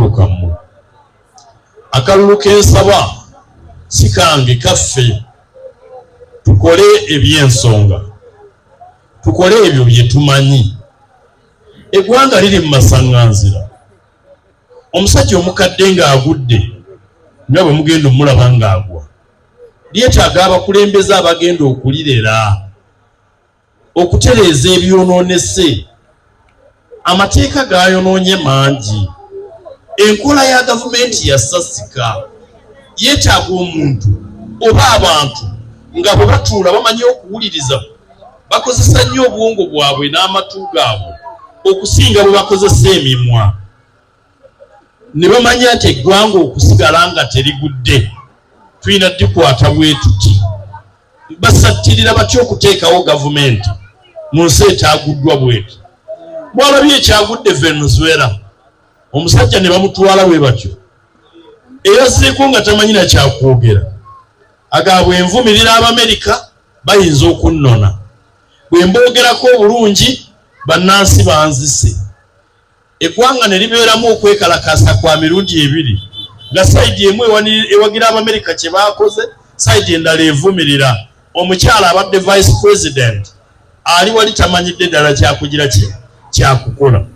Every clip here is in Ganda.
kammwe akalulu kensaba sikange kaffe tukole ebyensonga tukole ebyo byetumanyi eggwanga liri mu masaŋŋanzira omusajja omukadde ng'agudde nga bwe mugenda omulaba ng'agwa lyetaaga abakulembeze abagenda okulirera okutereeza ebyonoonese amateeka gaayonoonye mangi enkola ya gavumenti yasasika yeetaaga omuntu oba abantu nga bwe batuula bamanyi okuwuliriza bakozesa nnyo obwongo bwabwe n'amatu gaabwe okusinga bwe bakozesa emimwa ne bamanya nti eggwanga okusigala nga terigudde tulina dikwata bwetuti basattirira batya okuteekawo gavumenti mu nsi etaaguddwa bweti bwalabye ekyagudde venezuela omusajja ne bamutwala bwe batyo eyazireku nga tamanyi na kyakwogera agabwe envumirira abamerika bayinza okunnona bwe mboogerako obulungi bannansi banzise eggwanga ne libeeramu okwekalakaasa kwa mirundi ebiri nga sayidi emu ewagira Abamerika kye baakoze, sayidi endala evumirira omukyala abadde vice president ali wali tamanyidde ddala kyakugira kye kyakukola.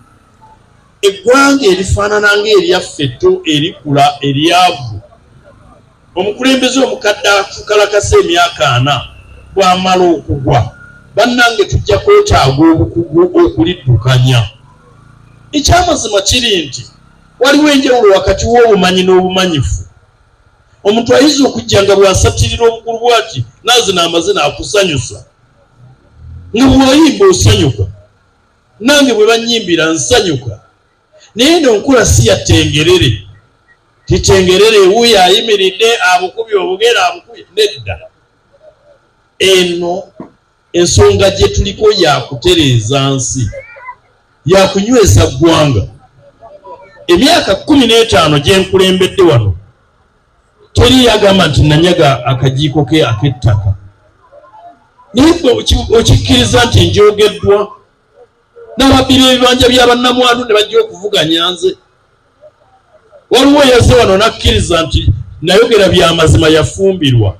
Eggwanga erifaanana ng'eryaffe etto erikula eryavu. Omukulembeze omukadde akukalakase emyaka ana bwamala okugwa bannange tujja kwetaaga obukugu okuliddukanya. Ekyamazima kiri nti waliwo enjawulo wakati w'obumanyi n'obumanyifu. Omuntu ayinza okujja nga bw'asattirira obukulu bwati nazina amazina akusanyusa nga bw'oyimba osanyuka nange bwe bannyimbira nsanyuka. naye eno nkula si ya tengerere titengerere wuyo ayimiridde abukubye obugere abukubye nedda eno ensonga gye tuliko yakutereeza nsi yakunyweza ggwanga emyaka kumi n'etaano gye nkulembedde wano teri yagamba nti nanyaga akajiiko ke ak'ettaka naye okikkiriza nti njogeddwa n'ababbira ebibanja bya bannamwandu ne bajja okuvuganya nze waliwo yazze wano n'akkiriza nti nayogera byamazima yafumbirwa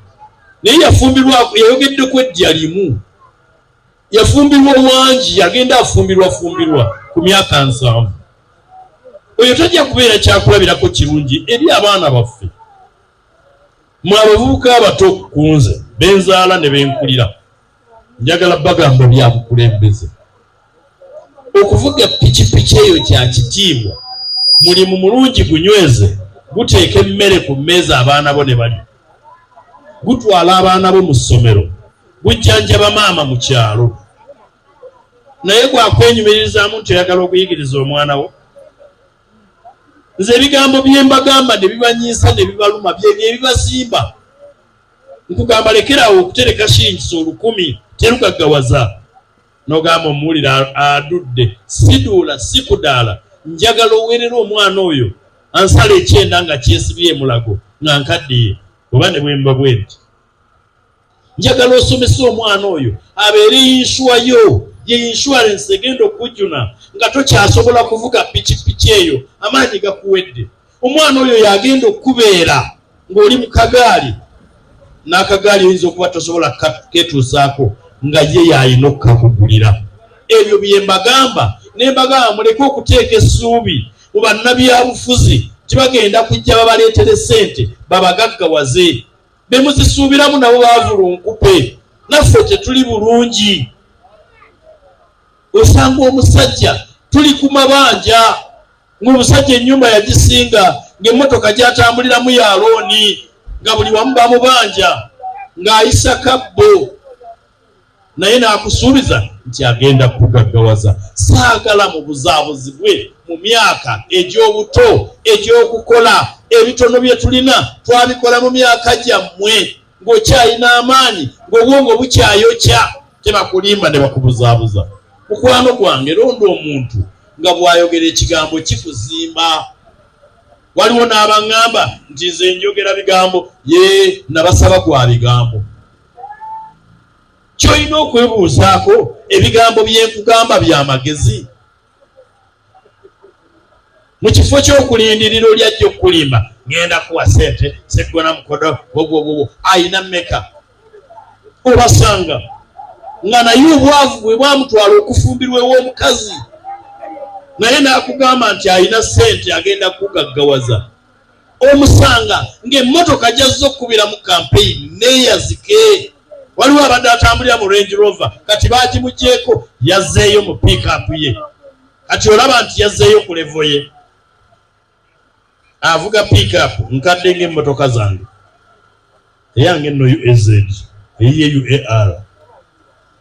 naye yafumbirwa yayogedde ku eddya limu yafumbirwa wangi yagenda afumbirwa fumbirwa ku myaka nsanvu oyo tajja kubeera kyakulabirako kirungi eri abaana baffe mwe abavubuka abato ku nze benzaala ne benkulira Njagala bagamba bya bukulembeze. Okuvuga pikipiki eyo kya kitiibwa, mulimu mulungi, gunyweze, guteeka emmere ku mmeeza abaana bo ne balya, gutwala abaana bo mu ssomero, gujjanjaba maama mu kyalo. Naye gwa kwenyumiririzaamu nti oyagala okuyigiriza omwana wo? Nze ebigambo bye mbagamba ne bibanyiisa ne bibaluma bye bye bibazimba. nkugamba lekeraawo okutereka shingisa olukumi terugaggawaza nogamba omuwulire adudde siduula sikudaala njagala owerera omwana oyo ansala ekyenda nga kyesibye emulago nga nkaddiye oba ne bwemba bwenti njagala osomesa omwana oyo abeere yinsuwa yo ye insurance egenda okujuna nga tokyasobola kuvuga pikipiki eyo amaanyi gakuwedde omwana oyo yagenda okukubeera ng'oli mu kagaali n'akagaali oyinza okuba tosobola ketuusaako nga ye yalina okukakugulira ebyo bye mbagamba ne mbagamba muleke okuteeka essuubi mu bannabyabufuzi tibagenda kujja babaleetere ssente babagaggawaze be muzisuubiramu nabo bavulunkupe naffe tetuli bulungi osanga omusajja tuli ku mabanja Ng'omusajja ennyumba yagisinga, ng'emmotoka gy'atambuliramu ya looni, nga buli wamu bamubanja ng'ayisa kabbo, naye n'akusuubiza nti agenda kugaggawaza. Saagala mubuzaabuzi bwe mu myaka egy'obuto egy'okukola. Ebitono bye tulina twabikola mu myaka gyammwe. ng'okyalina amaanyi ng'obwongo bukyayokya tebakulimba ne bakubuzaabuza mukwano gwange londa omuntu nga bw'ayogera ekigambo kikuzimba waliwo n'abaŋŋamba nti nze njogera bigambo ye nabasaba gwa bigambo ky'olina okwebuuzaako ebigambo bye nkugamba bya magezi mu kifo ky'okulindirira oli ajja okukulimba ngenda kuwa sente seggona mukodo bobwobubu ayina meka obasanga nga naye obwavu bwe bwamutwala okufumbirwa ew'omukazi naye n'akugamba nti alina sente agenda kugaggawaza omusanga ng'emmotoka gyazze okukubiramu kampeyini neeyazike waliwo abadde atambulira mu range rover kati bagimugyeko yazzeeyo mu pickup ye kati olaba nti yazzeeyo ku levo ye avuga pickup nkadde ngaemmotoka zange eyange nno uaz eyiye uar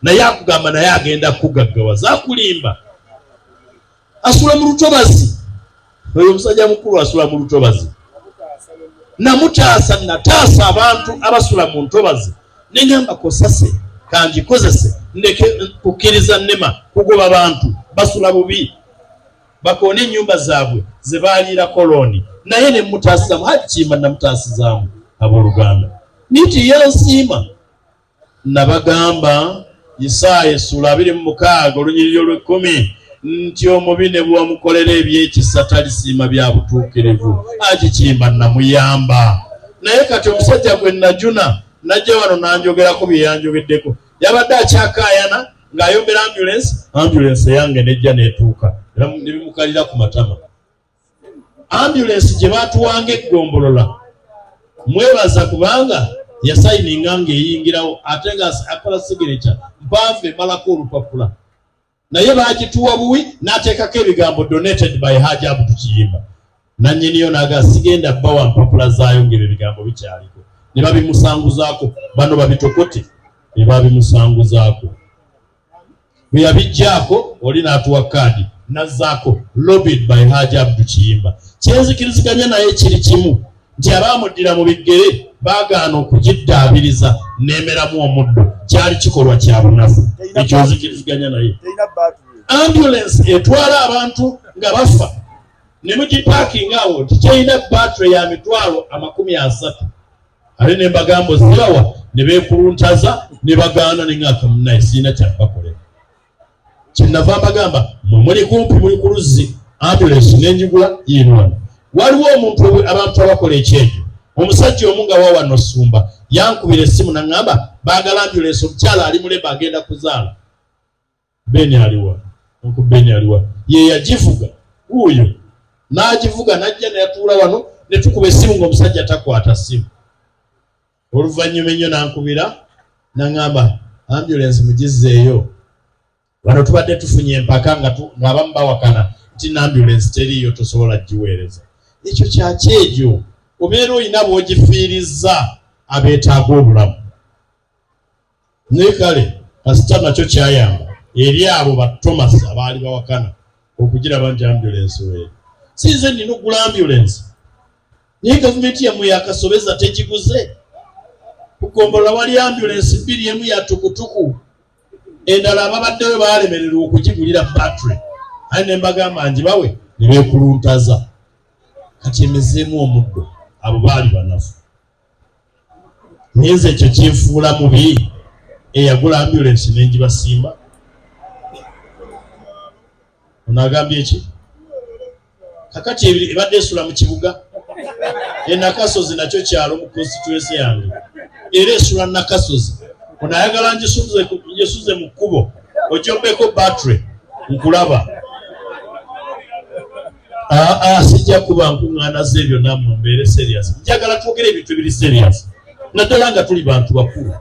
naye akugamba naye agenda kugaggawaza akulimba asula mu lutobazi oyo omusajja mukulu asula mu lutobazi namutaasa nataasa abantu abasula mu ntobazi neŋamba kosase kangikozese ndeke kukkiriza nema kugoba bantu basula bubi bakoona ennyumba zaabwe ze baaliira kolooni naye ne mutaasizamu hajjimba namutaasizaamu abooluganda niti yansiima Nabagamba, Isaaya essuula abiri mu mukaaga olunyiriri olw'ekkumi, nti omubi ne bwe wamukolera eby'ekisa talisiima bya butuukirivu, agikimba nnamuyamba. Naye kati omusajja gwe nnajuna n'ajja wano n'anjogerako bye yanjogeddeko. Yabadde akyakaayana ng'ayombera ambyulensi, ambyulensi eyange n'ejja n'etuuka ne bimukalira ku matama. ambulensi gye baatuwanga eggombolola mwebaza kubanga yasayininga ng'eyingirawo ate nga akola sigineca mpanvu emalako olupapula naye baagituwa buwi n'ateekako ebigambo donated by haja abutu kiyimba nannyiniyo naaga sigenda bawa mpapula zaayo ng'ebyo ebigambo bikyaliko ne babimusanguzaako bano babitokote ne babimusanguzaako bwe yabiggyaako oli n'atuwa kaadi nazzaako lobbied by Haji Abdu Kiyimba. Kye nzikiriziganya naye kiri kimu nti abaamuddira mu biggere baagaana okugiddaabiriza n'emeramu omuddo kyali kikolwa kya bunafu ekyo nzikiriziganya naye. Ambulance etwala abantu nga bafa ne mugipaakinga awo nti kirina battery ya mitwalo amakumi asatu. ate ne mbagamba ozibawa ne beekuluntaza ne bagaana ne ng'aka munaye sirina kyakubakolera kyenava mbagamba mwe muli kumpi muli ku luzzi ambulensi n'enjigula yiinwano waliwo omuntu abantu abakola ekyejo omusajja omu nga wawa nosumba yankubira essimu naŋŋamba baagala ambulensi omukyala ali muleba agenda kuzaala Ben aliwa? Uncle Ben aliwa? Ye yagivuga wuuyo n'agivuga n'ajja ne yatuula wano ne tukuba essimu ng'omusajja takwata ssimu. Oluvannyuma ennyo n'ankubira n'aŋamba ambulensi mugizzeeyo. Wano tubadde tufunye empaka ng'abamu bawakana nti n'ambulensi teriiyo tosobola giweereza. Ekyo kya kyejo obeera olina b'ogifiirizza abeetaaga obulamu. Naye kale kasita nakyo kyayamba eri abo ba Thomas abaali bawakana okugiraba nti ambulensi weeri. Si nze nnina okugula ambulensi, naye gavumenti yammwe yakasobeza tegiguze. Ku ggombolola wali ambulensi bbiri, emu ya tukutuku, endala ababaddeyo baalemererwa okugigulira battery, aye ne mbagamba ngibawe ne beekuluntaza. Kati emezeemu omuddo, abo baali banafu. ngenze ekyo kinfuula mubi eyagula ambulensi nengibasimba ono agambye ki kakati ebadde esula mu kibuga enakasozi nakyo kyalo mu konsituensi yange era esula nakasozi ono ayagala njesuze mu kkubo ojombeko battery nkulaba aa ah, ah, sijja kuba nkuŋŋaana z'ebyo nammwe mbeere serious njagala twogere ebintu ebiri serious naddala nga tuli bantu bakulu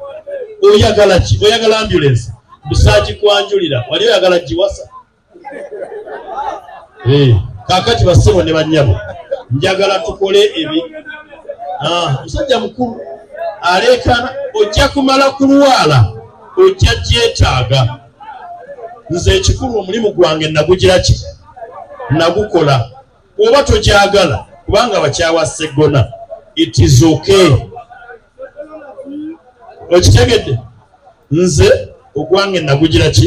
oyagala ki oyagala ambulance busaaki kwanjulira wali oyagala giwasa eh, kakati bassebo ne bannyabo njagala tukole ebi ah, musajja mukulu aleekana ojja kumala kulwala ojja gyetaaga nze ekikulu omulimu gwange nagugira ki nagukola oba tokyagala kubanga bakyawa seggona it is okay okitegedde nze ogwange nagugira ki